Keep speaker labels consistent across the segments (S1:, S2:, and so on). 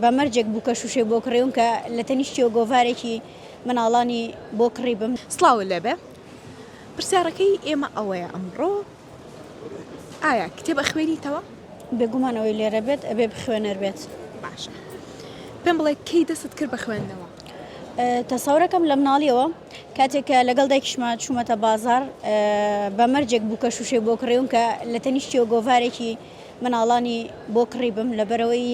S1: بە مەرجێک بوو کە شووشەی بۆ کڕیوم کە لە تەنیشتیەوە گۆڤارێکی مناڵانی بۆ کڕیبم. سڵاوو لێبێ
S2: پرسیارەکەی ئێمە ئەوەیە ئەمڕۆ ئایا کتێب ئەخوێنیتەوە؟ بێگومان ئەوەی
S1: لێرە بێت ئەبێ بخوێنەر بێت. باشە
S2: پێم بڵێ کەی دەستت کرد بە خوێندنەوە؟
S1: تەسەورەکەم لە مناڵیەوە کاتێک کە لەگەڵ دایکیشمە چوومەتە بازار بە مەرجێک بوو کە شووشەی بۆ کڕیوم کە لە تەنیشتیەوە گۆڤارێکی مناڵانی بۆ کڕیبم لەبەرەوەی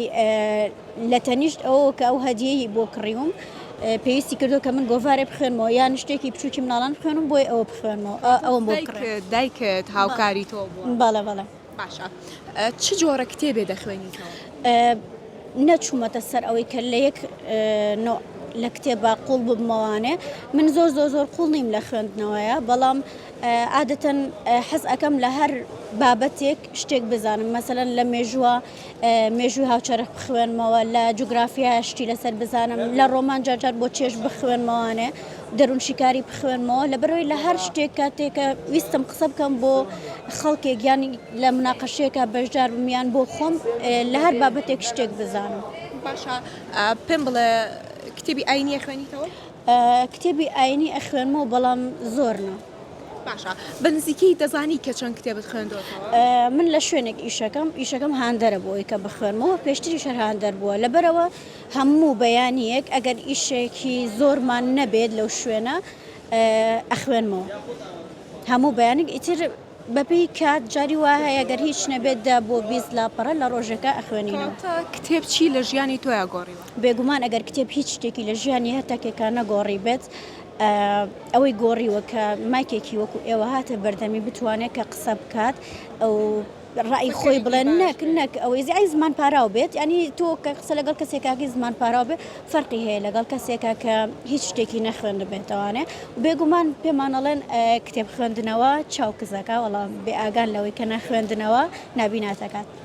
S1: لە تەنیشت ئەوەوە کە ئەو هەدیەی بۆ کڕیوم پێویستی کردو کە من گۆڤارێ بخوێنمەوە یان شتێکی بچوکی مناڵان بخوێنم بۆی ئەوە بخوێنمەوە ئەوم بۆ دایکت
S2: هاوکاری تۆ بەڵێ بەڵێ باشە چ جۆرە کتێبێ دەخوێنیتەوە
S1: نەچوومەتە سەر ئەوەی کە لە یەک لە کتێبا قوڵ ببمەوانێ من زۆر زۆر زۆر قوڵ نیم لە خوێندنەوەیە بەڵام عادەتەن حەز ئەکەم لە هەر بابەتێک شتێک بزانم مەسەلەن لە مێژووە مێژووی هاوچەرخ بخوێنمەوە لە جوگرافیا شتی لەسەر بزانم لە ڕۆمان جارجار بۆ چێش بخوێنمەوانێ دەروون شیکاری بخوێنمەوە لە بەرەوەی لە هەر شتێک کاتێکە ویستم قسە بکەم بۆ خەڵکێک یانی لە مناقەشێکە بەشدار بمیان بۆ خۆم لە هەر بابەتێک شتێک بزانم باشە
S2: پێم بڵێ کتێبی ئاینیە خوێنیتەوە؟ کتێبی
S1: ئاینی ئەخوێنمەوە بەڵام زۆر نا. باشە
S2: بە نزیکەی دەزانی کە چەند کتێبت خوێندۆتەوە؟ من لە شوێنێک
S1: ئیشەکەم ئیشەکەم هاندەرە بۆ ئەوی کە بخوێنمەوە پێشتری شەر هاندەر بووە لەبەرەوە هەموو بەیانیەک ئەگەر ئیشێکی زۆرمان نەبێت لەو شوێنە ئەخوێنمەوە هەموو بەیانێک ئیتر بەپێی کات جاری وا هەیە گەر هیچ نەبێت دە بۆ بیست لاپەڕە لە ڕۆژێکا ئەخوێنینەوە. کاتە، کتێب چی
S2: لە ژیانی تۆیا گۆڕیوە؟ بێگومان ئەگەر کتێب
S1: هیچ شتێکی لە ژیانی هەر تاکێکا نەگۆڕیبێت، ئەوەی گۆڕیوە کە مایکێکی وەکو ئێوە هاتە بەردەمی بتوانێت کە قسە بکات و ڕای خۆی بڵێت نەک نەک ئەوەی زمان پاراو بێت یانی تۆ کە قسە لەگەڵ کەسێکا کەی زمان پاراو بێت، فەرقی هەیە لەگەڵ کەسێکا کە هیچ شتێکی نەخوێندبێتەوانێ و بێگومان پێمان ئەڵێن کتێب خوێندنەوە چاو کزەکا وەڵام بێ ئاگان لەوەی کە نەخوێندنەوە نابیناتەکات.